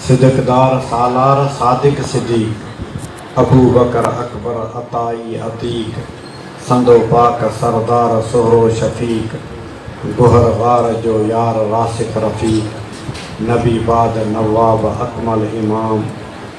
صدقدار سالار صادق سجي، ابوبڪر اڪبر عطائي عتيق، سندو پاڪ سردار سهرو شفيق، گهر غار جو يار راسخ رفيق، نبي باد نواب اڪمل امام،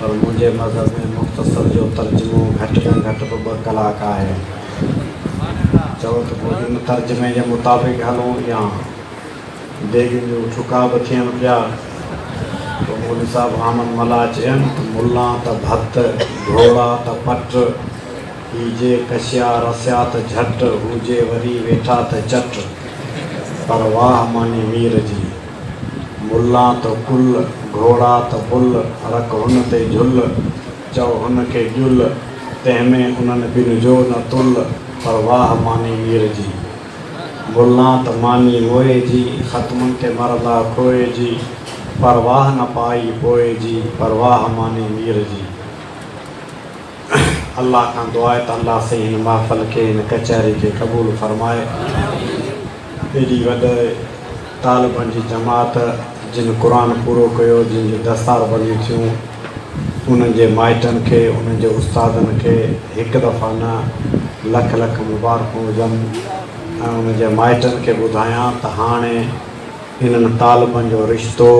پر منهنجي مذهب ۾ مختصر جو ترجمو گهٽ ۾ گهٽ به ٻه ڪلاڪ آهي. چئو ته پوء ان ترجمي جي مطابق هلون يا ديڳن جون ٺڪا به ٿين پيا. پوء مولوي صاحب حامد ملاح چين ته ملا ته ڀت، ڍوڙا ته پٽ، هي جي ڪشيا رسيا ته جهٽ، هو جي وري ويٺا ته چٽ. پر واهه ماني مير جي! ملان تو ڪل، گهوڙا ته بل، رک هن تي جهل، چئو هن کي ڄل، تنهن ۾ انهن ٻن جو نه تل، پر واهه ماني مير جي. ملان ته ماني موئي جي، ختمن تي مرندا کوئي جي، پر واهه نه پائي پوئي جي، پر واهه ماني مير جي. الله کان دعا آهي ته الله سائين هن محفل کي هن ڪچهري کي قبول فرمائي ايڏي وڏي طالبن جي جماعت جن قرآن پورو ڪيو جن جون دستار بنديون ٿيون انهن جي مائٽن کي انهن جي استادن کي هڪ دفعا نه لک لک مبارڪون هجن ۽ انهن جي مائٽن کي ٻڌايان ته هاڻي انهن طالبن جو رشتو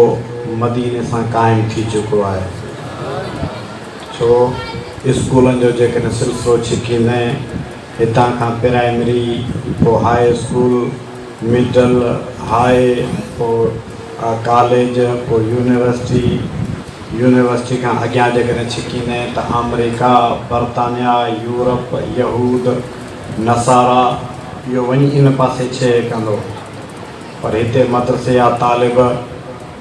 مديني سان قائم ٿي چڪو آهي. ڇو اسڪولن جو جيڪڏهن سلسلو ڇڪيندين هتان کان پرائمري پوء هاء اسڪول، مڊل، هاء پوء ڪاليج پوء يونيورسٽي، يونيورسٽي کان اڳيان جيڪڏهن ڇڪيندين ته آمريڪا، برطانيا، يورپ، يهود، نصارا اهو وڃي ان پاسي ڇهي ڪندو پر هتي مدرسي يا طالب.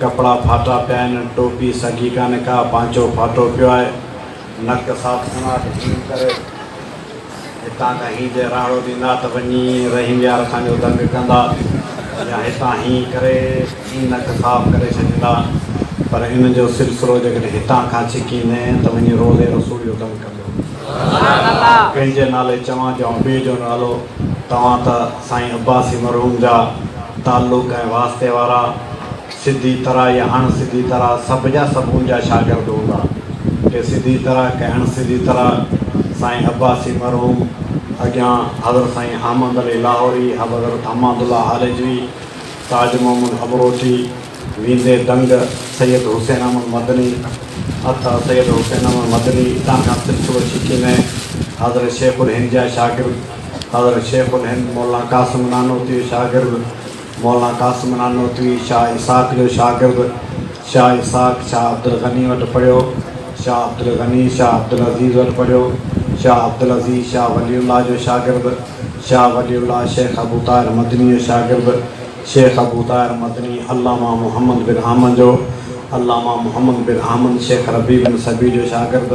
ڪپڙا ڦاٽا پيا آهن، ٽوپي سگهي ڪانه ڪا، پانچو ڦاٽو پيو آهي، نڪ صاف سنوار هيم ڪري هتان کان هين جي راڙو ڏيندا ته وڃي رحيم يار اسان جو دنگ ڪندا يا هتان هين ڪري هين نڪ صاف ڪري ڇڏيندا پر ان جو سلسلو جيڪڏهن هتان کان ڇڪيندين ته وڃي روضي رسول جو دنگ ڪندو. ڪنهن جي نالي چوان جيئون ٻئي جو نالو توهان ته. سائين عباسي مرحوم جا تعلق ۽ واسطي وارا سڌي طرح يا اڻ سڌي طرح سڀ جا سڀ ان جا شاگرد هوندا. ڪي سڌي طرح ڪي اڻ سڌي طرح سائين عباسي مرحوم اڳيان حضرت سائين حامد علي لاهوري، حضرت حماد الله هالجوي، تاج محمد امروٽي، ويندي دنگ سيد حسين احمد مدني عطا سيد حسين احمد مدني اتان کان سلسلو ڇڪي ۾ حضرت شيخ الهند جا شاگرد حضرت شيخ الهند مولانا قاسم نانوتوي جو شاگرد مولانا قاسم نانوتوي شاهه اسحاق جو شاگرد شاهه اسحاق شاهه عبدالغني وٽ پڙهيو شاهه عبدالغني شاهه عبدالعزيز وٽ پڙهيو شاهه عبدالعزيز شاهه ولي الله جو شاگرد شاهه ولي الله شيخ ابو طاهر مدني جو شاگرد شيخ ابو طاهر مدني، علامه محمد بن حامد جو، علامه محمد بن حامد شيخ ربيع بن صبيح جو شاگرد،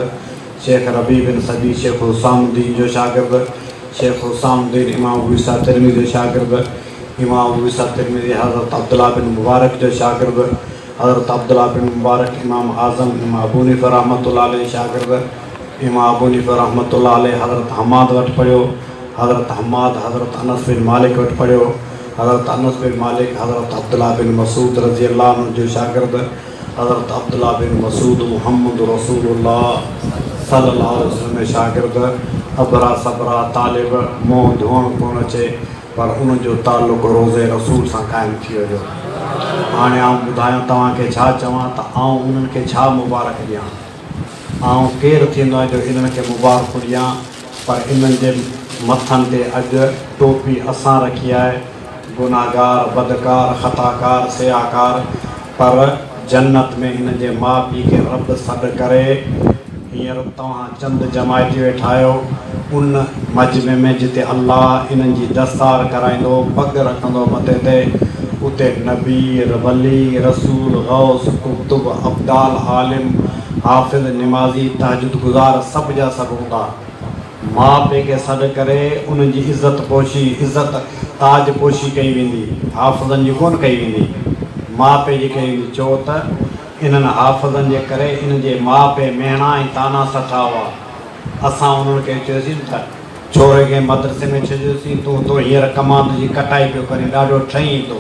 شيخ ربيع بن صبيح شيخ حسام الدين جو شاگرد، شيخ حسام الدين امام ابو عيسيٰ ترمذي جو شاگرد، امام ابو عيسيٰ ترمذي حضرت عبدالله بن مبارڪ جو شاگرد، حضرت عبدالله بن مبارڪ امام اعظم امام ابو حنيفه رحمة الله عليه جو شاگرد، امام ابو حنيفه رحمة الله عليه حضرت حماد وٽ پڙهيو، حضرت حماد حضرت انس بن مالڪ وٽ پڙهيو، حضرت انس بن مالڪ حضرت عبدالله بن مسعود رضي الله عنه جو شاگرد حضرت عبدالله بن مسعود محمد رسول الله صلي الله عليه وسلم ۾ شاگرد ابرا صبرا طالب منهن ڌوئڻ ڪونه اچي پر ان جو تعلق روضه رسول سان قائم ٿي ويو هاڻي آئون ٻڌايان توهان کي ڇا چوان ته آئون انهن کي ڇا مبارڪ ڏيان آئون ڪير ٿيندو آهيان جو انهن کي مبارڪون ڏيان پر انهن جي مٿن تي اڄ ٽوپي اسان رکي آهي، گنهگار، بدڪار، خطاڪار، سياهڪار، پر جنت ۾ هن جي ماء پيء کي رب سڏ ڪري. هينئر توهان چند جماعتي ويٺا آهيو، ان مجمع ۾ جتي الله انهن جي دستار ڪرائيندو، پڳ رکندو مٿي تي، اتي نبي، ولي، رسول، غوث، قطب، ابدال، عالم، حافظ، نمازي، تهجد گذار سڀ جا سڀ هوندا. ماء پي کي سڏ ڪري انهن جي عزت پوشي، عزت، تاج پوشي ڪئي ويندي، حافظن جي ڪونه ڪئي ويندي. ماء پي جي ڪئي ويندي ڇو ته انهن حافظن جي ڪري انهن جي ماء پي مهڻا ۽ طعنا سٺا هئا. اسان انهن کي چيوسين ته ڇوري کي مدرسي ۾ ڇڏيوسين تون تو هينئر ڪماند جي ڪٽائي پيو ڪرين ڏاڍو ٺهين ٿو.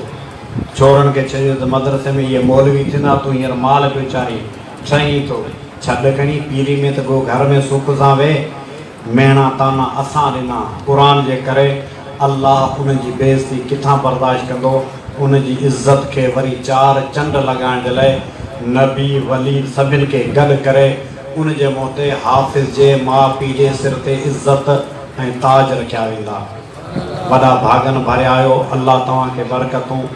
ڇورن کي چئجي ته مدرسي ۾ اهي مولوي ٿيندا، تون هينئر مال پيو چارين، ٺهين ٿو، ڇڏ کڻي پيري ۾ ته گو گهر ۾ سک سان ويهه. ميڻا طعنا اسان ڏنا، قرآن جي ڪري، الله انهن جي بي عزتي ڪٿان برداشت ڪندو، انهن جي عزت کي وري چار چنڊ لڳائڻ جي لاء نبي، ولي سڀن کي گڏ ڪري، ان جي منهن تي حافظ جي ماء پيء جي سر تي عزت ۽ تاج رکيا ويندا. وڏا ڀاڳن ڀريا آهيو الله توهان کي برڪتون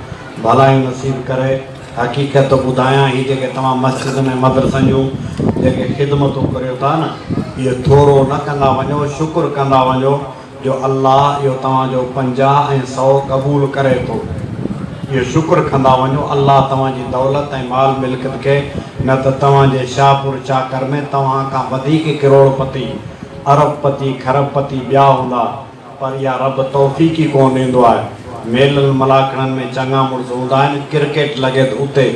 ڀلايون نصيب ڪري حقيقت ٿو ٻڌايان هي جيڪي توهان مسجدن ۽ مدرسن جون جيڪي خدمتون ڪريو ٿا نه اهي ٿورو نه ڪندا وڃو شڪر ڪندا وڃو جو الله اهو توهان جو پنجاهه ۽ سئو قبول ڪري ٿو اهو شڪر ڪندا وڃو الله توهان جي دولت ۽ مال ملڪت کي نه ته توهان جي شاهپور چاڪر ۾ توهان کان وڌيڪ ڪروڙ پتي ارب پتي کرب پتي ٻيا هوندا پر يا رب توفيق ئي ڪونه ڏيندو آهي. ميلن ملاکڙن ۾ چڱا مڙس هوندا آهن، ڪرڪيٽ لڳي ته اتي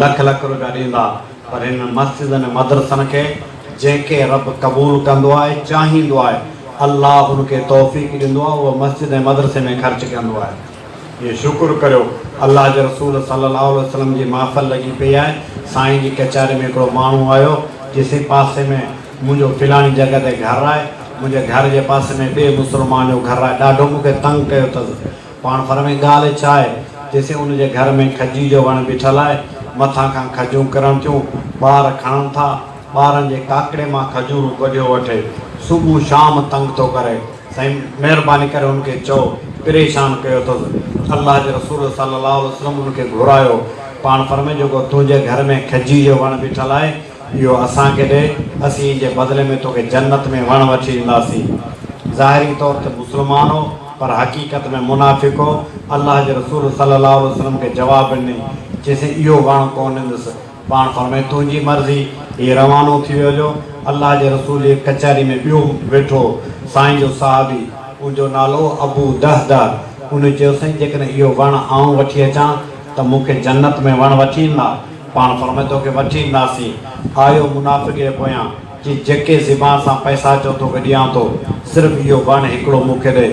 لک لک روپيا ڏيندا، پر هنن مسجدن ۽ مدرسن کي جنهن کي رب قبول ڪندو آهي، چاهيندو آهي، الله ان کي توفيق ڏيندو آهي، اهو مسجد ۽ مدرسي ۾ خرچ ڪندو آهي. جي شڪر ڪريو الله جي رسول صلي الله عليه وسلم جي محفل لڳي پئي آهي سائين جي ڪچهري ۾ هڪڙو ماڻهو آيو چيسين پاسي ۾ منهنجو فلاڻي جڳهه تي گهر آهي منهنجي گهر جي پاسي ۾ ٻئي مسلمان جو گهر آهي ڏاڍو مون کي تنگ ڪيو اٿس پاڻ فرمائي ڳالهه ڇا آهي چيسين ان جي گهر ۾ کجي جو وڻ بيٺل آهي مٿان کان کجون ڪرڻ ٿيون ٻار کڻن ٿا ٻارن جي ڪاڪڙي مان کجورون ڪڍيو وٺي صبح شام تنگ ٿو ڪري سائين مهرباني ڪري ان کي چئو پريشان ڪيو اٿس الله جي رسول صلي الله عليه وسلم ان کي گهرايو پاڻ فرمي جيڪو تنهنجي گهر ۾ کجي جو وڻ بيٺل آهي اهو اسان کي ڏي اسين ان جي بدلي ۾ توکي جنت ۾ وڻ وٺي ڏينداسين ظاهري طور تي مسلمان هو پر حقيقت ۾ منافق هو الله جي رسول صلي الله عليه وسلم کي جواب ڏني چيسين اهو وڻ ڪونه ڏيندس پاڻ فرمائي تنهنجي مرضي هي روانو ٿي ويو جو الله جي رسول جي ڪچهري ۾ ٻيو ويٺو هو سائين جو صحابي ان جو نالو هو ابو دهده ان چيو سائين جيڪڏهن اهو وڻ آئون وٺي اچان ته مون کي جنت ۾ وڻ وٺي ايندا پاڻ فرمائي توکي وٺي اينداسين آيو منافق جي پويان چي جيڪي زبان سان پئسا چئو توکي ڏيان ٿو صرف اهو وڻ هڪڙو مون کي ڏي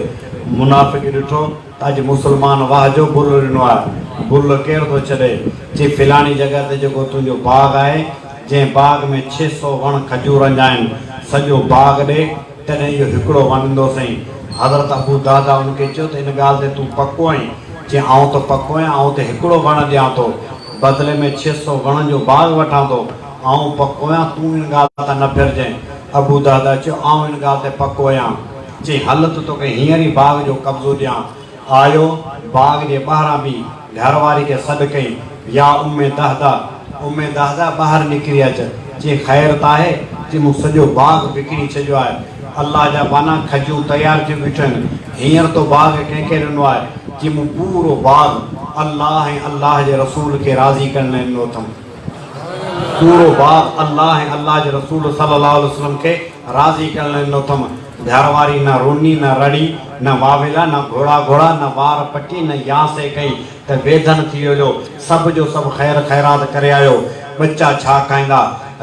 منافق ڏٺو اڄ مسلمان واهه جو بل ڏنو آهي، بل ڪير ٿو ڇڏي؟ چي فلاڻي جڳهه تي جيڪو تنهنجو باغ آهي، جنهن باغ ۾ ڇهه سؤ وڻ کجورن جا آهن، سڄو باغ ڏي، تڏهن اهو هڪڙو وڻ ڏيندوسئين. حضرت ابو دهده ان کي چيو ته ان ڳالهه تي تون پڪو آهين؟ چي آئون ته پڪو آهيان، آئون ته هڪڙو وڻ ڏيان ٿو، بدلي ۾ ڇهه سؤ وڻن جو باغ وٺان ٿو، آئون پڪو آهيان، تون ان ڳالهه تان نه ڦرجانء. ابو دهده چيو، آئون ان ڳالهه تي پڪو آهيان. چي هل ته توکي هينئر ئي باغ جو قبضو ڏيان. آيو، باغ جي ٻاهران بيهي گهر واري کي سڏ ڪئي، يا ام دهده! ام دهده ٻاهر نڪري اچ. چي خير ته آهي؟ چي مون سڄو باغ وڪڻي ڇڏيو آهي. الله جا ٻانها کجون تيار ٿيون بيٺيون آهن. هينئر تو باغ ڪنهن کي ڏنو آهي؟ چي مون پورو باغ الله ۽ الله جي رسول کي راضي ڪرڻ لاء ڏنو اٿم. پورو باغ الله ۽ الله جي رسول صلي الله عليه وسلم کي راضي ڪرڻ لاء ڏنو اٿم. ڌر واري نه روني، نه رڙي، نه واويلا، نه گهوڙا گهوڙا، نه وار پٽي، نه ياسي ڪئي ته ويڌن ٿي ويو جو سڀ جو سڀ خير خيرات ڪري آيو. ٻچا ڇا کائيندا؟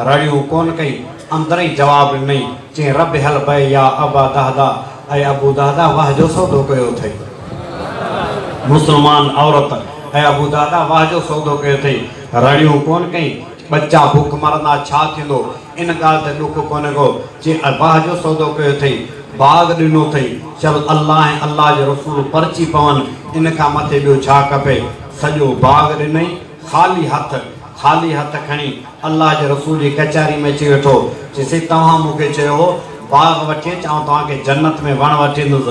رڙيون ڪونه ڪئي، اندر ئي جواب ڏنئي. جنهن ربيع البيع يا ابا دهده ۽ ابو دهده واهه جو سودو ڪيو اٿئي. مسلمان عورت ۽ ابو دهده واهه جو سودو ڪيو اٿئي. رڙيون ڪونه ڪئين. ٻچا بک مرندا ڇا ٿيندو. ان ڳالهه تي ڏک ڪونه ڪيو. چي واهه جو سودو ڪيو اٿئي. باغ ڏنو اٿئي. چل الله ۽ الله جي رسول پرچي پون. ان کان مٿي ٻيو ڇا کپي. سڄو باغ ڏنئي. خالي هٿ. خالي هٿ کڻي الله جي رسول جي ڪچهري ۾ اچي ويٺو، چيسين، توهان مون کي چيو هو، باغ وٺي اچ، آئون توهان کي جنت ۾ وڻ وٺي ايندس.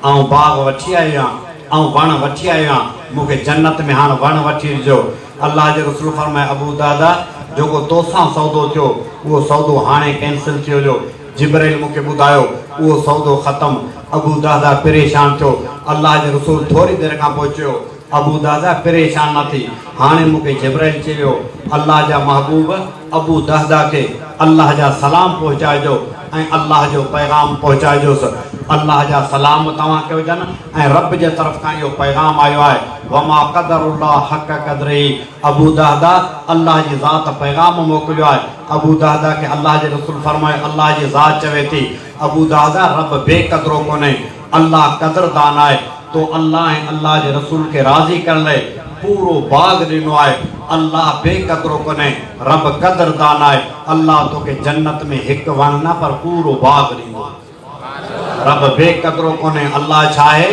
آئون باغ وٺي آيو آهيان، آئون وڻ وٺي آيو آهيان، مون کي جنت ۾ هاڻ وڻ وٺي ڏجو. الله جي رسول فرمايو، ابو الدحداح، جيڪو توسان سودو ٿيو، اهو سودو هاڻي ڪينسل ٿي وڃو. جبرئيل مون کي ٻڌايو، اهو سودو ختم. ابو الدحداح پريشان ٿيو. الله جي رسول ٿوري دير کان پوء چيو. ابو دهده پريشان نه ٿي. هاڻي مون کي جبرائيل چي ويو، الله جا محبوب ابو دهده کي الله جا سلام پهچائجو ۽ الله جو پيغام پهچائجوس. الله جا سلام توهان کي هجن ۽ رب جي طرف کان اهو پيغام آيو آهي، وما قدر الله حق قدره ابو دهده الله جي ذات پيغام موڪليو آهي. ابو دهده کي الله جي رسول فرمايو، الله جي ذات چوي ٿي، ابو دهده رب بي قدرو ڪونهي. الله قدردان آهي، تو الله ۽ الله جي رسول کي راضي ڪرڻ لئي پورو باغ ڏنو آهي، الله بي قدرو ڪونهي، رب قدردان آهي، الله توکي جنت ۾ هڪ وڻ نه پر پورو باغ ڏيندو. رب بي قدرو ڪونهي، الله ڇا آهي؟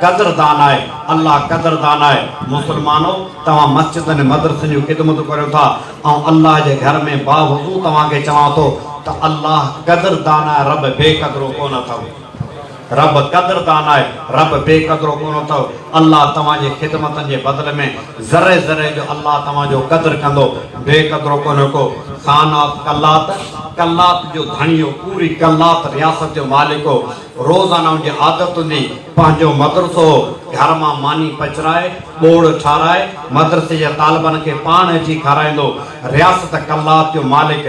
قدردان آهي، الله قدردان آهي، مسلمانو! توهان مسجدن ۽ مدرسن جون خدمتون ڪريو ٿا، آئون الله جي گهر ۾ باوضو توهان کي چوان ٿو ته الله قدردان آهي، رب بي قدرو ڪونه اٿئو. رب قدردان آهي، رب بي قدرو ڪونه اٿئو، الله توهان جي خدمتن جي بدل ۾ ذري ذري جو الله توهان جو قدر ڪندو، بي قدرو ڪونه ڪو، خان آف قلات، قلات جو ڌڻي هو، پوري قلات رياست جو مالڪ هو، روزانه ان جي عادت هوندي، پنهنجو مدرسو هو، گهر مان ماني پچرائي، ٻوڙ ٺارائي، مدرسي جي طالبن کي پاڻ اچي کارائيندو، رياست قلات جو مالڪ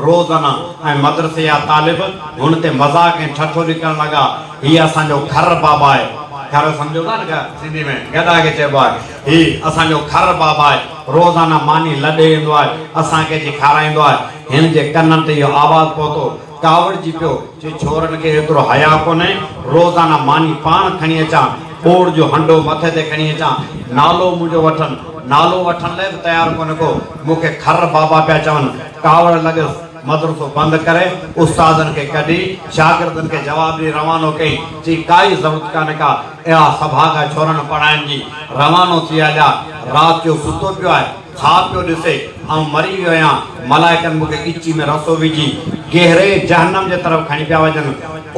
روزنه ۽ مدرسي جا طالب هن تي مذاق ۽ ٺٺولي ڪرڻ لڳا، هي اسان جو کرر بابا آهي. کرر سمجهو ٿا نه سنڌي ۾ گڏا کي چئبو آهي. هي اسان جو کرر بابا آهي. روزانه ماني لڏي ايندو آهي. اسان کي اچي کارائيندو آهي. هن جي ڪنن تي اهو آواز پهتو. ڪاوڙجي پيو، چي ڇورن کي ايترو حياء ڪونهي، روزانه ماني پاڻ کڻي اچان، ٻوڙ جو هنڊو مٿي تي کڻي اچان، نالو منهنجو وٺن، نالو وٺڻ لاء به تيار ڪونهي ڪو، مون کي خر بابا پيا چون، ڪاوڙ لڳس، مدرسو بند ڪري، استادن کي ڪڍي، شاگردن کي جواب ڏئي روانو ڪيئين، چي ڪائي ضرورت ڪانهي ڪا، اها سڀاڳا ڇورن پڙهائڻ جي، روانو ٿي هليا، رات جو ستو پيو آهي. ڇا پيو ڏسي؟ آئون مري ويو آهيان، ملائڪن مون کي ڳچي ۾ رسو وجهي گهري جهنم جي طرف کڻي پيا وڃن.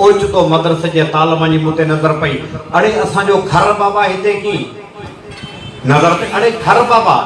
اوچتو مدرسي جي طالبن جي مون تي نظر پئي. اڙي اسان جو خر بابا هتي ڪين؟ نظر تي اڙي خر بابا!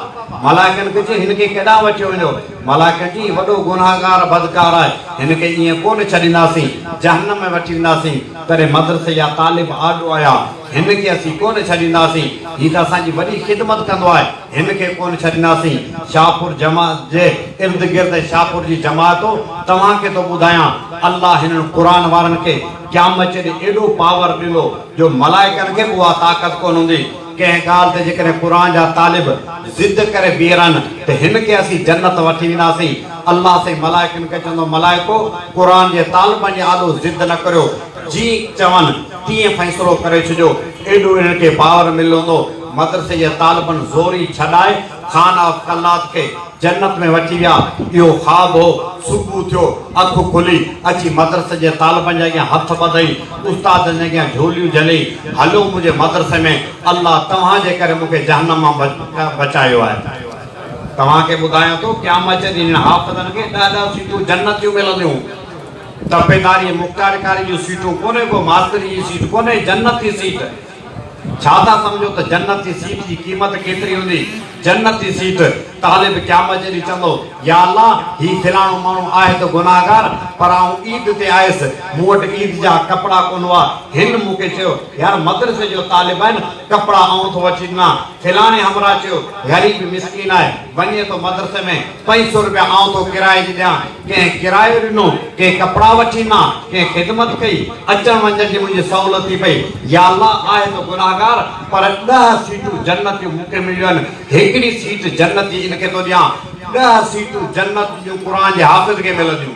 ملائڪن کي چيو هن کي ڪيڏانهن وٺي وڃو؟ ملائڪن چيو هي وڏو گنهگار بدڪار آهي، هن کي ائين ڪونه ڇڏينداسين، جهنم ۾ وٺي وينداسين. تڏهن مدرسي جا طالب آڏو آيا، هن کي اسين ڪونه ڇڏينداسين، هي ته اسان جي وڏي خدمت ڪندو آهي. هن کي ڪونه ڇڏينداسين. شاهپور جماعت جي ارد گرد ۽ شاهپور جي جماعت توهان کي ٿو ٻڌايان الله هنن قرآن وارن کي قيامت جي ڏينهن ايڏو پاور ڏندو جو ملائڪن کي به اها طاقت ڪونه هوندي ڪنهن ڳالهه تي جيڪڏهن قرآن جا طالب ضد ڪري بيهرن ته هن کي اسين جنت وٺي وينداسين الله سائين ملائڪن کي چوندو ملائڪو قرآن جي طالبن جي آڏو ضد نه ڪريو جيئن چون تيئن فيصلو ڪري ڇڏيو ايڏو هنن کي پاور مليل هوندو مدرسي جي طالبن زوري ڇڏائي خان آف قلات کي جنت ۾ وٺي ويا. اهو خواب هو. صبح ٿيو، اک کلي، اچي مدرسي جي طالبن جي اڳيان هٿ ٻڌئي، استادن جي اڳيان جهوليون جهلئي، هلو منهنجي مدرسي ۾، الله توهان جي ڪري مون کي جهنم مان بچايو آهي. توهان کي ٻڌايان ٿو، قيامت جي ڏينهن هن حافظن کي ڏهه ڏهه سيٽون جنت جون ملنديون. تپيداري ۽ مختيارڪاري جون سيٽون ڪونهي، ڪو ماستري جي سيٽ ڪونهي، جنت جي سيٽ. ڇا ٿا سمجهو ته جنت جي سيٽ جي قيمت ڪيتري هوندي؟ جنت جي سيٽ! طالب قيامت جي ڏينهن چوندو، يا الله! هي فلاڻو ماڻهو آهي ته گنهگار، پر آئون عيد تي آيس، مون وٽ عيد جا ڪپڙا ڪونه هئا، هن مون کي چيو، يار مدرسي جو طالب آهين، ڪپڙا آئون ٿو وٺي ڏنا. فلاڻي همراهه چيو، غريب مسڪين آهي. وڃي ٿو مدرسي ۾ پنج سؤ روپيا آئون تو ڪرائي جي ڏيان، ڪنهن ڪرايو ڏنو، ڪنهن ڪپڙا وٺي مان، ڪنهن خدمت ڪئي، اچڻ وڃڻ جي منهنجي سهولت ٿي پئي، يا الله آهي ته گنهگار پر ڏهه سيٽون جنت جون مون کي مليون آهن، هڪڙي سيٽ جنت جي ان کي ٿو ڏيان، ڏهه سيٽون جنت جون قرآن جي حافظ کي ملنديون.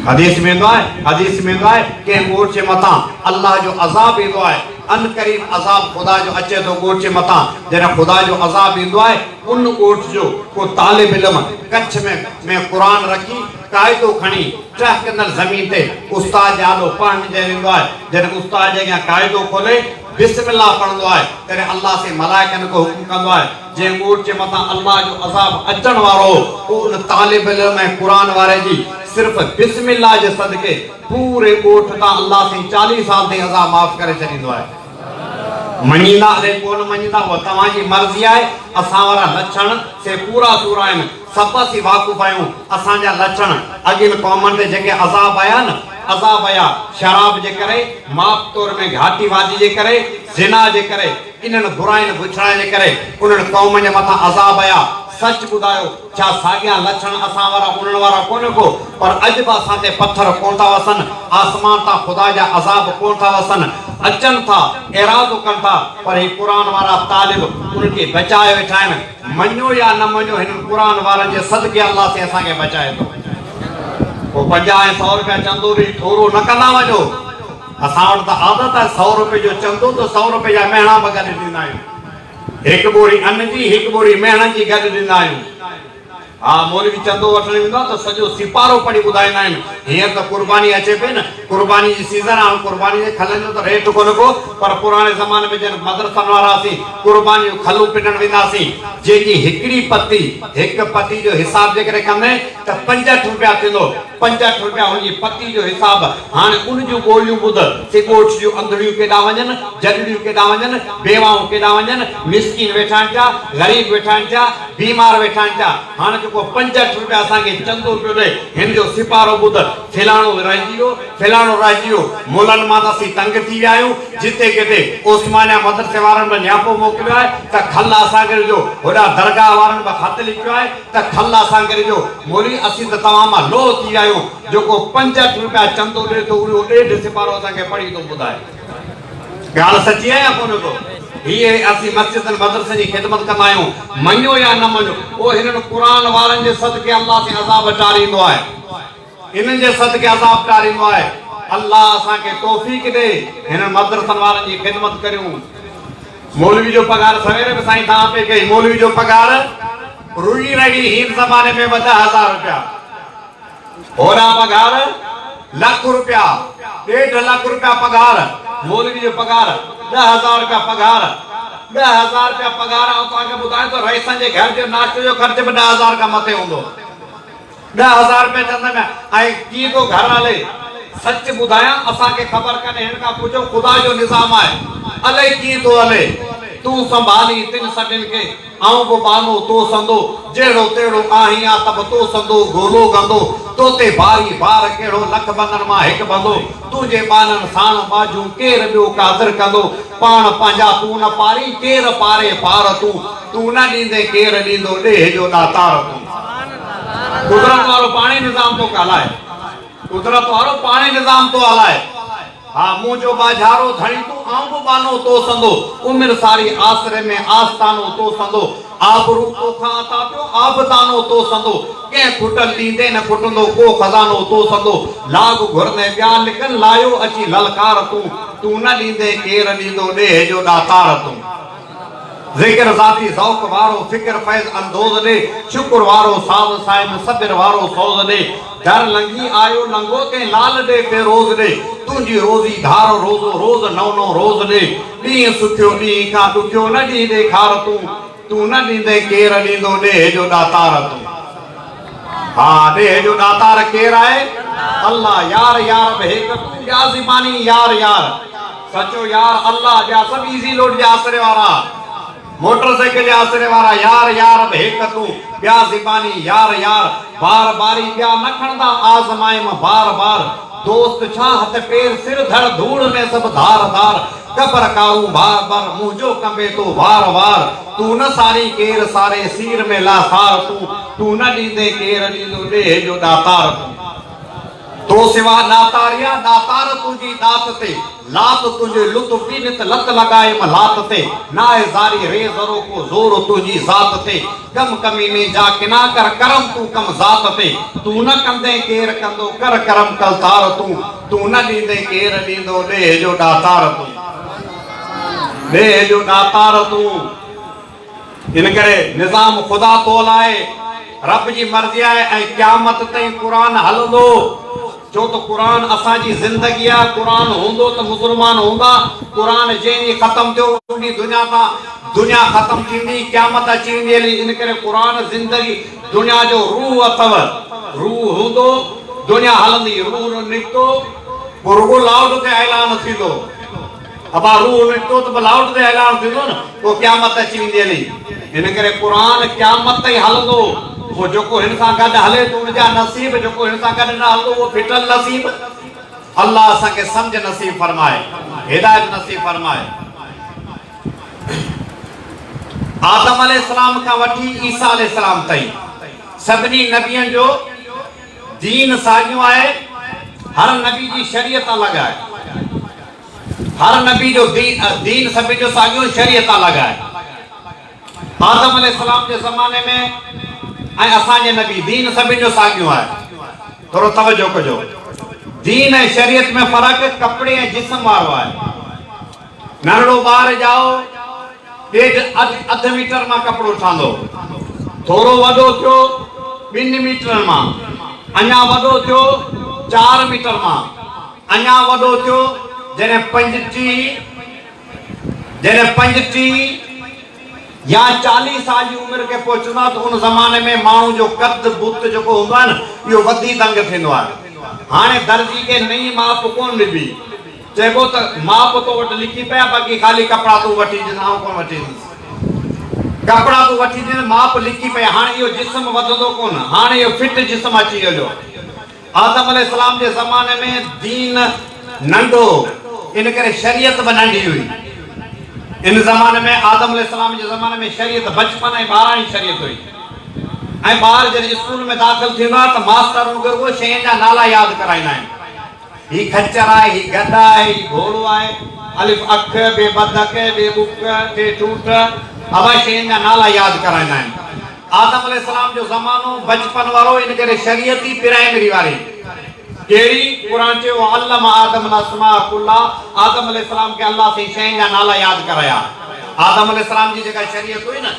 حديث ۾ ايندو آهي، حديث ۾ ايندو آهي، ڪنهن ڳوٺ جي مٿان الله جو عذاب ايندو آهي، عنقريب عذاب خدا جو اچي ٿو ڳوٺ جي مٿان، جڏهن خدا جو عذاب ايندو آهي، ان ڳوٺ جو ڪو طالب علم ڪڇ ۾ ۾ قرآن رکي، قاعدو کڻي، ٽهڪندڙ زمين تي استاد جي آڏو پڙهڻ جي ويندو آهي، جڏهن استاد جي اڳيان قاعدو کولي، بسم الله پڙهندو آهي، تڏهن الله سائين ملائڪن کي حڪم ڪندو آهي، جنهن ڳوٺ جي مٿان الله جو عذاب اچڻ وارو هو، پوء ان طالب علم ۽ قرآن واري جي صرف بسم الله جي صدقي پوري ڳوٺ تان الله سائين چاليهه سال تائين عذاب معاف ڪري ڇڏيندو آهي. مڃيندا الائي ڪو نه مڃيندا اها توهان جي مرضي آهي، اسان وارا لڇڻ سي پورا سورا آهن، سڀ اسين واقف آهيون، اسان جا لڇڻ اڳين قومن تي جيڪي عذاب آيا نه، عذاب آيا شراب جي ڪري، ماپ تور ۾ گهاٽي وادي جي ڪري، زنا جي ڪري، انهن برائين بڇڙائين جي ڪري انهن قومن جي مٿان عذاب آيا. سچ ٻڌايو، ڇا ساڳيا لڇڻ اسان وارا انهن وارا ڪونه ڪو؟ پر اڄ به اسان تي پٿر ڪونه ٿا وسن، آسمان تان خدا جا عذاب ڪونه ٿا وسن. اچن ٿا، ارادو ڪن ٿا، پر هي قرآن وارا طالب انهن کي بچائي ويٺا آهن. مڃو يا نه مڃو، هنن قرآن وارن جي صدقي الله سين اسان کي بچائي ٿو. پوء پنجاهه ۽ سؤ رپيا چندو ڏيئي ٿورو نه ڪندا وڃو. اسان وٽ ته عادت آهي سؤ روپئي جو چندو ته سؤ روپئي جا مهڻا به گڏ ڏيندا آهيون. هڪ ٻوري ان جي هڪ ٻوري مهڻن جي گڏ ڏيندا آهيون. ها مولوي چندو وٺڻ ايندا آهن ته سڄو سيپارو پڙهي ٻڌائيندا آهن. هينئر ته قرباني اچي پئي نه قرباني جي سيزن آهي هاڻ قرباني جي کلن جو ته ريٽ ڪونه ڪو پر پراڻي زماني ۾ جڏهن مدرسن وارا اسين قرباني جون کلون پنڻ ويندا هاسين جنهن جي هڪڙي پتي هڪ پتي جو حساب جيڪڏهن ڪندين ته پنجهٺ روپيا ٿيندو پنج اٺ روپيا هن جي پتي جو حساب، هاڻ ان جون ٻوليون ٻڌ، سي ڳوٺ جون انڌڙيون ڪيڏانهن وڃن، جڏڙيون ڪيڏانهن وڃن، بيواهون ڪيڏانهن وڃن، مسڪين ويٺا آهن پيا، غريب ويٺا آهن پيا، بيمار ويٺا آهن پيا، هاڻ جيڪو پنج اٺ روپيا اسان کي چندو پيو ڏئي، هن جو سپارو ٻڌ، فلاڻو رهجي ويو، فلاڻو رهجي ويو، ملن مان ته اسين تنگ ٿي ويا آهيون، جتي ڪٿي عثمانيه مدرسي وارن به نياپو موڪليو آهي ته کل اسان کي ڏجو، هوڏانهن درگاهه وارن به خط لکيو آهي، ته ٿل اسان کي ڏجو، مولوي اسين ته توهان مان لوهه ٿي آهيون، جيڪو پنج اٺ روپيا چندو ڏي ٿو اهو ڏيڍ سپارو اسان کي پڙهي ٿو ٻڌائي. ڳالهه سچي آهي يا ڪونه ڪو؟ هيء اسين مسجدن مدرسن جي خدمت ڪندا آهيون، مڃو يا نه مڃو، پوء هنن قرآن وارن جي صدقي الله سين عذاب ٽاريندو آهي. انهن جي صدقي عذاب ٽاري مئو. الله اسان کي توفيق ڏي هنن مدرسن وارن جي خدمت ڪريون. مولوي جو پگهار سوير به سائين سان آپي ڪئي مولوي جو پگهار رڳي رڳي هين زماني ۾ ٻه ڏهه هزار روپيا هوڏانهن پگهار لک روپيا ڏيڍ لک روپيا پگهار مولوي جو پگهار ڏهه هزار روپيا پگهار ڏهه هزار روپيا پگهار آئون توهان کي ٻڌايان ٿو رئيسن جي گهر جو ناشتي جو خرچ به ڏهه هزار کان مٿي هوندو ڏهه هزار روپيه چندن ۽ ڪي ٿو گهر هلي سچ ٻڌايان اسان کي خبر ڪانهي هن کان پڇو خدا جو نظام آهي الئي ڪيئن ٿو هلي تون سنڀالين تن سڀن کي آئون به ٻانهو تو سندو جهڙو تهڙو آهين آ ته به تو سندو گولو گندو تو تي ڀاري بار ڪهڙو لک بندن مان هڪ بندو تنهنجي ٻانهن ساڻ ٻاجهون ڪير ٻيو قادر ڪندو پاڻ پنهنجا تون نه پارين ڪير پاري پار تون تون نه ڏيندين ڪير ڏيندو ڏيهه جو ڏاتار تون. قدرت وارو پاڻهي نظام ٿو ڪالائي. قدرت وارو پاڻهي نظام ٿو هلائي. ها منهنجو ٻاجهارو ڌڻي تون آئون به ٻانهو تو سندو عمر ساري آسري ۾ آستانو تو سندو آبرو توکان عطا پيو آبدانو تو سندو ڪنهن کٽل ڏيندي نه کٽندو ڪو خزانو تو سندو لاڳ گهرندي ٻيا لڪن لايو اچي للڪار تون تون نه ڏيندي ڪير ڏيندو ڏيهه جو ڏاتار تون. ذڪر ذاتي ذوق وارو فڪر فيض اندوز ڏي شڪر وارو ساز صاحب صبر وارو سوز ڏي در لنگهي آيو لنگهو تين لال ڏي فيروز ڏي تنهنجي روزي ڌار روزو روز نئون نئون روز ڏي ڏينهن سکيو ڏينهن کان ڏکيو نه ڏينهن ڏيکار تون تون نه ڏيندين ڪير ڏيندو ڏيهه جو ڏاتار تون ها ڏيهه جو ڏاتار ڪير آهي الله يار يارب هيڪ تون ٻيا زباني يار يار. سچو يار الله جا سڀ ايزي لوڊ جي آسري وارا موٽر سائيڪل جي آسري وارا يار يار به هڪ تون ٻيا زباني يار يار بار باري ٻيا نه کڻندا آزمائيم بار بار دوست ڇا هٿ پير سر ڌڙ ڌوڙ ۾ سڀ ڌار ڌار قبر ڪارون بار بر منهنجو ڪنبي تو وار وار تون نه سارين ڪير ساري سير ۾ لاثار تون تون نه ڏيندين ڪير ڏيندو ڏيهه جو ڏاتار تون. تو سوا ناتاريا ناتار تنهنجي ڏات تي لات تنهنجي لطف جي نت لت لڳايم لات تي ناهي زاري ري ذرو ڪو زور تنهنجي ذات تي ڪم ڪميني جا ڪنا ڪر ڪرم تون ڪم ذات تي تون نه ڪندين ڪير ڪندو ڪر ڪرم ڪلتار تون تون نه ڏيندين ڪير ڏيندو ڏيهه جو ڏاتار تون ڏيهه جو ڏاتار تون. ان ڪري نظام خدا تول آهي، رب جي مرضي آهي ۽ قيامت تائين قرآن هلندو، ڇو ته قرآن اسان جي زندگي آهي، قرآن هوندو ته مسلمان هوندا، قرآن جنهن ڏينهن ختم ٿيو ان ڏينهن دنيا تان دنيا ختم ٿيندي، قيامت اچي ويندي هلي، ان ڪري قرآن زندگي دنيا جو روح اٿو، روح هوندو دنيا هلندي، روح نڪتو پوء رڳو لائوڊ تي اعلان ٿيندو. ابا روح ۾ ٽوت به لائوٽ تي ايلان ٿيندو نه پوء قيامت اچي ويندي هلي ان ڪري قرآن قيامت تائين هلندو پوء جيڪو هن سان گڏ هلي ته ان جا نصيب جيڪو هن سان گڏ نه هلندو اهو ڦٽل نصيب الله اسان کي سمجھ نصيب فرمائي هدايت نصيب فرمائي آدم عليه السلام کان وٺي عيسيٰ عليه السلام تائين سڀني نبين جو دين ساڳيون آهي، هر نبي جي شريعت الڳ آهي. هر نبي جو دين سڀني جو ساڳيو، شريعت الڳ آهي. آدم عليه السلام جي زماني ۾ ۽ اسان جي نبي دين سڀني جو ساڳيو آهي. ٿورو توجه ڪجو. دين ۽ شريعت ۾ فرق ڪپڙي ۽ جسم وارو آهي. ننڍڙو ٻار ڄائو. ڏيڍ اڌ ميٽر مان ڪپڙو ٺاندو ٿورو وڏو ٿيو ٻن ميٽرن مان اڃا وڏو ٿيو چار ميٽر مان اڃا وڏو ٿيو جڏهن پنج ٽي جڏهن پنج ٽي يا چاليهه سال جي عمر کي پهچندا ته ان زماني ۾ ماڻهو جو قد بت جيڪو هوندو آهي نه اهو وڌي دنگ ٿيندو آهي هاڻي درزي کي نئين ماپ ڪونه ڏبي چئبو ته ماء به تو وٽ لڪي پئي آ باقي خالي ڪپڙا تون وٺي ڏس آئون ڪونه وٺي ڏيندس. ڪپڙا تون وٺي ڏين ماء به لڪي پئي هاڻ اهو جسم وڌندو ڪونه هاڻ اهو فٽ جسم اچي ويو جو آدم عليه السلام جي زماني ۾ دين ننڍو هو ان ڪري شريعت به ننڍي هئي ان زماني ۾ آدم عليه السلام جي زماني ۾ شريعت بچپن ۽ ٻاراڻي شريعت هئي ۽ ٻار جڏهن اسڪول ۾ داخل ٿيندو آهي ته ماستر رڳو شين جا نالا ياد ڪرائيندا آهن. هي خچر آهي، هي گڏ آهي، هي گهوڙو آهي، الف اک، بي بدڪ، بي بک، ٽي ٺوٺ، اهي شين جا نالا ياد ڪرائيندا آهن. آدم عليه السلام جو زمانو بچپن وارو ان ڪري شريعتي پرائمري واري ڪهڙي؟ قرآن چيو وعلم آدم الاسماء کلها آدم عليه السلام کي الله سائين شين جا نالا ياد ڪرايا. آدم عليه السلام جي جيڪا شريعت هئي نه.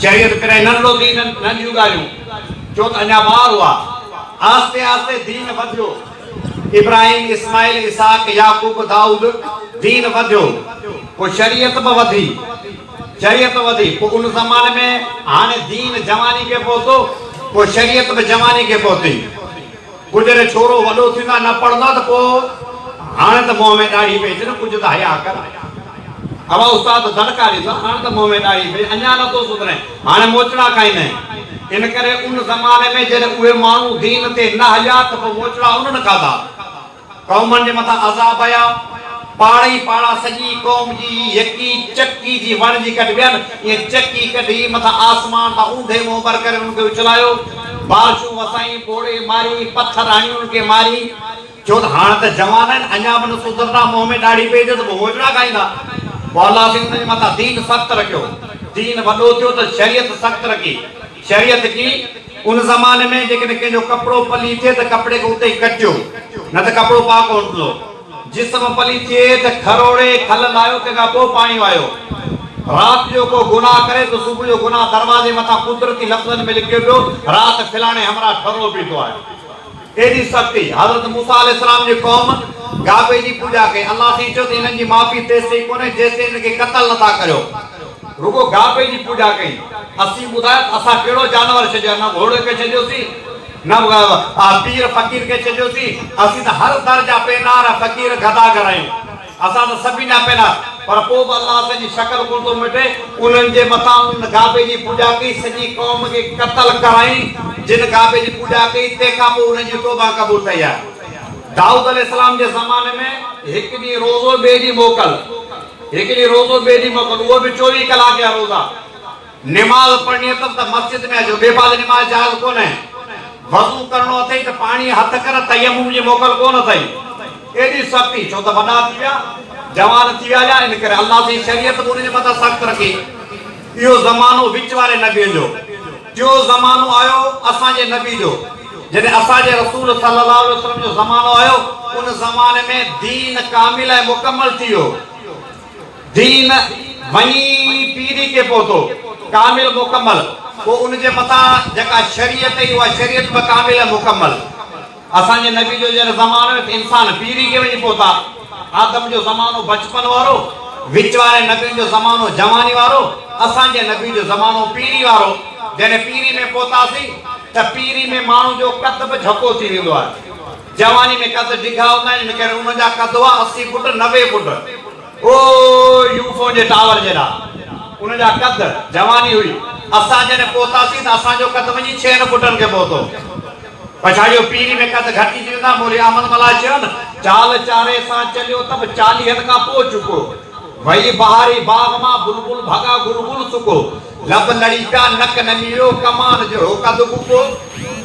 چيائين ته پرين نه رڙو دين ننڍيون ڳالهيون جو ته اڃا ٻار هئا. آهستي آهستي دين وڌيو. ابراهيم، اسماعيل، اسحاق، يعقوب، دائود دين وڌيو. پوء شريعت به وڌي. شريعت وڌي. پوء ان زماني ۾ هاڻي دين جواني کي پهتو. پوء شريعت به جواني کي پهتي. گجري ڇورو وڏو ٿيندا نه پڙهندا ته پوء هاڻي ته منهن ۾ ڏاڙهي پئي اچي نه ڪجهه ته حياء ڪر اوا استاد دڙڪا ڏيندا هاڻي ته منهن ۾ ڏاڙهي پئي اڃا نه ٿو سڌرين هاڻي موچڙا کائيندين ان ڪري ان زماني ۾ جڏهن اهي ماڻهو دين تي نه هليا ته پوء موچڙا انهن کاڌا. قومن جي مٿان عذاب آيا، پاڙي ئي پاڙا سڄي قوم جي هي يڪي چڪي جي وڻ جي ڪڍبي آهن، ائين چڪي ڪڍي مٿان آسمان تان اونڌي منهن ٻر ڪري انهن کي اڇلايو، بارشون وسائين، ٻوڙي ماري، پٿر هڻي انهن کي ماري. چيو ته هاڻ ته جوان آهن، اڃا به نه سڌرندا، منهن ۾ ڏاڙهي پئي اچيس به هوجڙا کائيندا. پوء الله سائين انهن جي مٿان دين سخت رکيو، دين وڏو ٿيو ته شريعت سخت رکي. شريعت ڪي، ان زماني ۾ جيڪڏهن ڪنهن جو ڪپڙو پلي ٿئي ته ڪپڙي کي اتي ئي ڪٽيو، نه ته ڪپڙو پاڪ هوندو. جسم پلي ٿئي ته کروڙي، کل لاهيو، تنهن کان پوء پاڻي وهايو. رات جو ڪو گناهه ڪري ته صبح جو گناهه دروازي مٿان قدرتي لفظن ۾ لکيو پيو، رات فلاڻي همراهه ٺرو پيتو آهي. ايڏي سختي! حضرت موسيٰ عليه السلام جي قوم گابي جي پوڄا ڪئي. الله سائين چيو ته هنن جي معافي تيستائين ڪونهي جيستائين هن کي قتل نه ٿا ڪريو. رڳو گابي جي پوڄا ڪئي. اسين ٻڌايو ته اسان ڪهڙو جانور ڇڏيو نه گهوڙي کي ڇڏيوسين نه پير فقير کي ڇڏيوسين. اسين ته هر در جا پينار ۽ فقير گداگر آهيون. اسان ته سڀ ايندا پيدا پر پوء به الله اسان جي شڪل ڪونه ٿو مٽي. انهن جي مٿان انهن گابي جي پوڄا ڪئي، سڄي قوم کي قتل ڪرائين، جن گابي جي پوڄا ڪئي، تنهن کان پوء انهن جي توبه قبول ڪئي آهي. دائود عليه السلام جي زماني ۾ هڪ ڏينهن روزو ٻئي ڏينهن موڪل، هڪ ڏينهن روزو ٻئي ڏينهن موڪل اهو به چوويهه ڪلاڪ جا روزا. نماز پڙهڻي اٿس ته مسجد ۾ اچو، ٻئي پاسي نماز جائز ڪونهي. وضو ڪرڻو اٿئي ته پاڻيء هٿ ڪر، تيمم جي موڪل ڪونه اٿئي. ايڏي سختي ڇو ته وڏا ٿي ويا، جوان ٿي ويا يا ان ڪري؟ الله سائين شريعت به انهن جي مٿان سخت رکي. اهو زمانو وچ واري نبين جو، ٽيون زمانو آيو اسان جي نبي جو. جڏهن اسان جي رسول صلي الله عليه وسلم جو زمانو آيو، ان زماني ۾ دين ڪامل ۽ مڪمل ٿي ويو. دين وڃي پيري کي پهتو، ڪامل مڪمل، پوء ان جي مٿان جيڪا شريعت ايئي اها شريعت به ڪامل ۽ مڪمل. اسان جي نبي جو جڏهن زمانو ايو ته انسان پيري کي وڃي پهتا، آدم جو زمانو بچپن وارو، وچ واري نبين جو زمانو جواني وارو، اسان جي نبي جو زمانو پيري وارو، جڏهن پيري ۾ پهتاسين ته پيري ۾ ماڻهو جو قد به جهڪو ٿي ويندو آهي. جواني ۾ قد ڊگها هوندا آهن، ان ڪري انهن جا قد هئا اسي فوٽ، نوي فوٽ. او يو فون جي ٽاور جيڏا انهن جا قد. جواني هئي. اسان جڏهن پهتاسين ته اسان جو قد وڃي ڇهن فوٽن کي پهتو. پڇاڙيو پيري ۾ قد گهٽجي ويندا. مولوي احمد ملاح چيون، چال چاري سان چليو ته به چاليهن کان پوء چڪو. وئي بهاري باغ مان بلبل ڀڳا گل گل سڪو. لب لڙيڪا نڪ نميرو ڪمان جهڙو قد ٻڪو.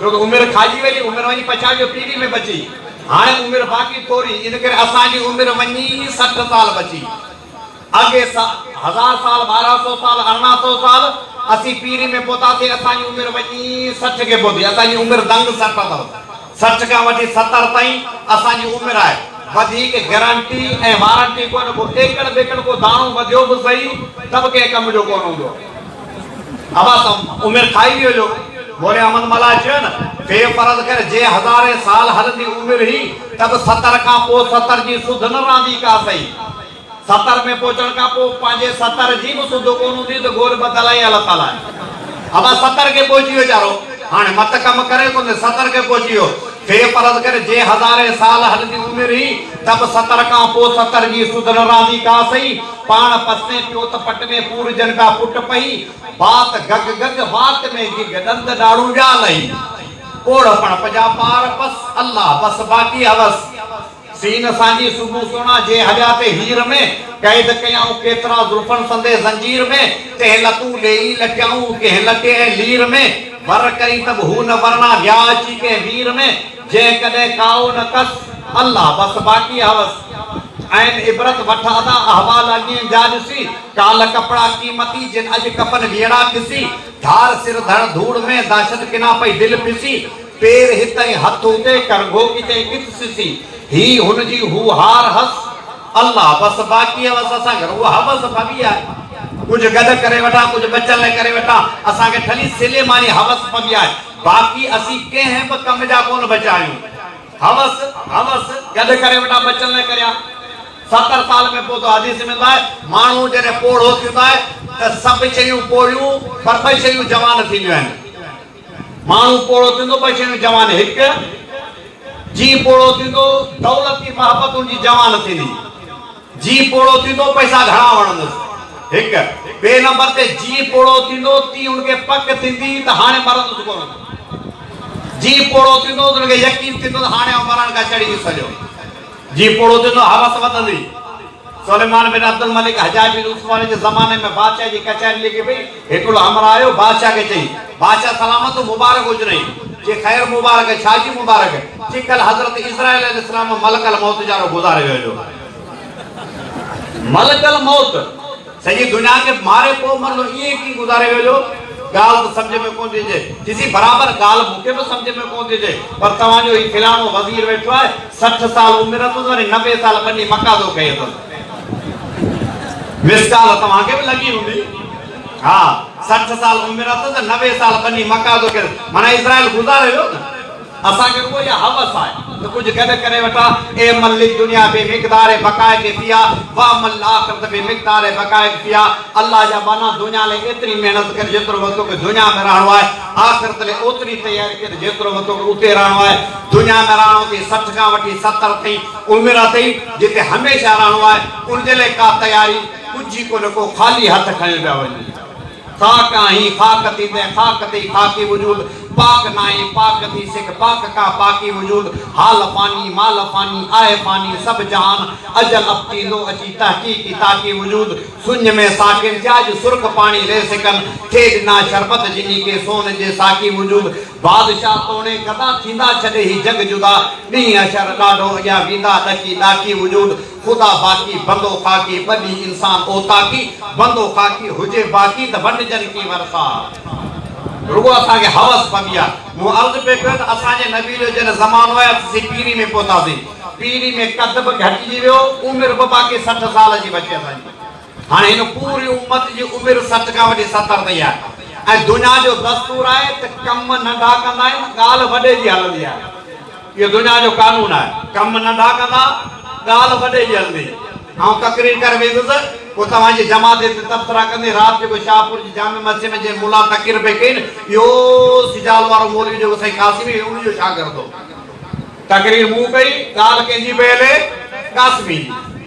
ڇو ته عمر کاڄي وئي، عمر وڃي پڇا جو پيڙهي ۾ بچي، هاڻي عمر باقي ٿوري، ان ڪري اسان جي عمر وڃي سٺ سال بچي. اڳي هزار سال، ٻارهن سو سال، ارڙهن سو سال، اسين پيڙهي ۾ پهتاسين، اسان جي عمر وڃي سٺ کي پهتي، اسان جي عمر دنگ سٺ اٿس، سٺ کان وٺي ستر تائين اسان جي عمر آهي، وڌيڪ گرنٽي ۽ وارنٽي ڪونه، ڪو ايڪڙ ٻيڪڙ ڪو داڻو وڌيو به سهي ته به ڪنهن ڪم جو ڪونه هوندو. عباس عمر کائي ويو جو موري احمد ملاح چيو نه في فرض ڪر جي هزارين سال هلندي عمر هي ته به ستر کان پوء ستر جي سڌ نه رهندي ڪا سهي ستر ۾ پهچڻ کان پوء پنهنجي ستر جي به سڌ ڪونه هوندي ته گور بدل آهي الله تعاليٰ آهي عباس ستر کي پهچي ويو ويچارو هاڻي مت ڪم ڪري ڪونه ستر کي پهچي ويو في فرض ڪر جي هزارين سال هلندي عمر هي ته به ستر کان پوء ستر جي سڌ نه رهندي ڪا سهي پاڻ پسين پيو ته پٽ ۾ پور جن ڪا پٽ پئي، بات گگ گگ، وات ۾ گگ، ڏند ڏاڙهون ويا لئي، پوڙهه پڻ پڄا پار پس، الله بس باقي هوس، سين سانجي سومهون سونا، جي هليا تي هير ۾، قيد ڪيائون ڪيترا زلفن سندي زنجير ۾، تنهن لتون ليئي لٽيائون، ڪنهن لٽي ۽ لير ۾، ور ڪرين ته به هو نه ورڻا، ويا اچي ڪنهن وير ۾، جيڪڏهن ڪائو نه ڪس الله بس باقي هوس عين عبرت وٺ ادا احوال اڳين جا ڏسي ڪالهه ڪپڙا قيمتي جن اڄ ڪفن ويڙها کسي ڌار سر ڌڻ ڌوڙ ۾ دهشت ڪنا پئي دل پسي پير هت ۽ هٿ اتي ڪرگهو ڪٿي ڪٿ سسي هي هن جي هو هار هس الله بس باقي هوس اسان کي روح هوس پوي آهي ڪجهه گڏ ڪري وٺان ڪجهه ٻچن لاء ڪري وٺان اسان کي ٺلهي سليماني هوس پوي آهي. باقي اسين ڪنهن به ڪم جا ڪونه بچيا آهيون. حوس حوس گڏ ڪري وٽان بچن نه ڪريا. ستر سال ۾ پوتو حديث ۾ ايندو آهي، ماڻهو جڏهن پوڙهو ٿيندو آهي ته سڀ شيون پوڙهيون پر ٻه شيون جوان ٿينديون آهن. ماڻهو پوڙهو ٿيندو ٻه شيون جوان هڪ، جيء پوڙهو ٿيندو دولت جي محبت ان جي جوان ٿيندي. جيء پوڙهو ٿيندو، پئسا گهڻا وڻندس. هڪ. ٻئي نمبر تي جيء پوڙهو ٿيندو، تيء هن کي پڪ ٿيندي ته هاڻي مرندس ڪونه. جيء پوڙهو ٿيندو ته هن کي يقين ٿيندو ته هاڻي آئون مرڻ کان چڙهي نه سگهيو. جيء پوڙهو ٿيندو، هوس وڌندي. سليمان بن عبدالملڪ حجاج بن عثمان جي زماني ۾ بادشاهه جي ڪچهري لڳي پئي. هيڪڙو همراهه آيو بادشاهه کي چئي بادشاهه سلامت هو مبارڪ هجنئي چي خير مبارڪ ڇا جي مبارڪ چي ڪل حضرت عزرائيل عليه السلام ملڪ الموت جارو گذاري ويو جو ملڪ الموت سڄي دنيا کي ماري پو مرندو ائين ڪي گذاري ويو جو ڳالهه ته سمجهه ۾ ڪونه ٿي اچي چيسين برابر ڳالهه مون کي به سمجهه ۾ ڪونه ٿي اچي پر توهان جو هي فلاڻو وزير ويٺو آهي سٺ سال عمر اٿس وري نوي سال ٻني مڪا ٿو کئي اٿس مس ڪال توهان کي به لڳي هوندي ها سٺ سال عمر اٿس ته نوي سال بني مڪه ٿو ڪري معنيٰ اسرائيل گذاري ويو نه اسان کي رڳو اها حوس آهي ته ڪجهه گڏ ڪري وٺان اي مل للدنيا بي مقدار بقائق فيها و مل لاخرت بي مقدار بقائق فيها الله جا ٻانها دنيا لئي ايتري محنت ڪر جيترو به توکي دنيا ۾ رهڻو آهي آخرت لئي اوتري تياري ڪر جيترو به توکي اتي رهڻو آهي دنيا ۾ رهڻو اٿئي سٺ کان وٺي ستر تائين اوميراتي جتي هميشه رهڻو آهي، ان جي لاء ڪا تياري ڪجهه ئي ڪونه، ڪو خالي هٿ کنيو پيا وڃي. خاڪ آهين، خاڪ ٿي تنهن خاڪ تي ئي خاڪي وجود، پاڪ ناهين، پاڪ ٿي سک، پاڪ ڪا پاڪي وجود، حال فاني، مال فاني، آهه فاني، سڀ جهان، اجل اپٽي اندو اچي، تحقيق ئي تاڪي وجود، سڃ ۾ ساڪين ٿيا اڄ سرخ پاڻي ري سڪن، ٿي ڏنا شربت جنهين کي سون جي ساقي وجود، بادشاهه توڻي ڪدا ٿيندا ڇڏي هي جڳ جدا ڏينهن حشر ڏاڍو اڳيان ويندا ڏڪي ڏاڪي وجود خدا باقي بندو خاڪي ٻه ڏينهن انسان اوطاقي بندو خاڪي هجي باقي ته ونڊجن ڪي ورثا رڳو اسان کي حوس پبي آ مون عرض پئي ڪيو ته اسان جي نبي جو جڏهن زمانو آيو ته اسين پيري ۾ پهتاسين پيري ۾ قد به گهٽجي ويو عمر به باقي سٺ سال جي بچي اسان جي. هاڻي هن پوري امت جي عمر سٺ کان وٺي ستر تائين آهي ۽ دنيا جو دستور آهي ته ڪم ننڍا ڪندا آهن ڳالهه وڏي جي هلندي آهي اهو دنيا جو قانون آهي ڪم ننڍا ڪندا ڳالهه وڏي جي هلندي آئون تقرير ڪري ويندس پوء توهان جي جماعت هتي تبصرا ڪندي رات جيڪو شاهپور جي جامع مسجد ۾ جنهن ملا تقرير پئي ڪئي نه اهو سجال وارو مولوي جيڪو سائين قاسمي هي ان جو شاگرد هو تقرير مون ڪئي ڳالهه ڪنهن جي پئي هلي قاسمي جي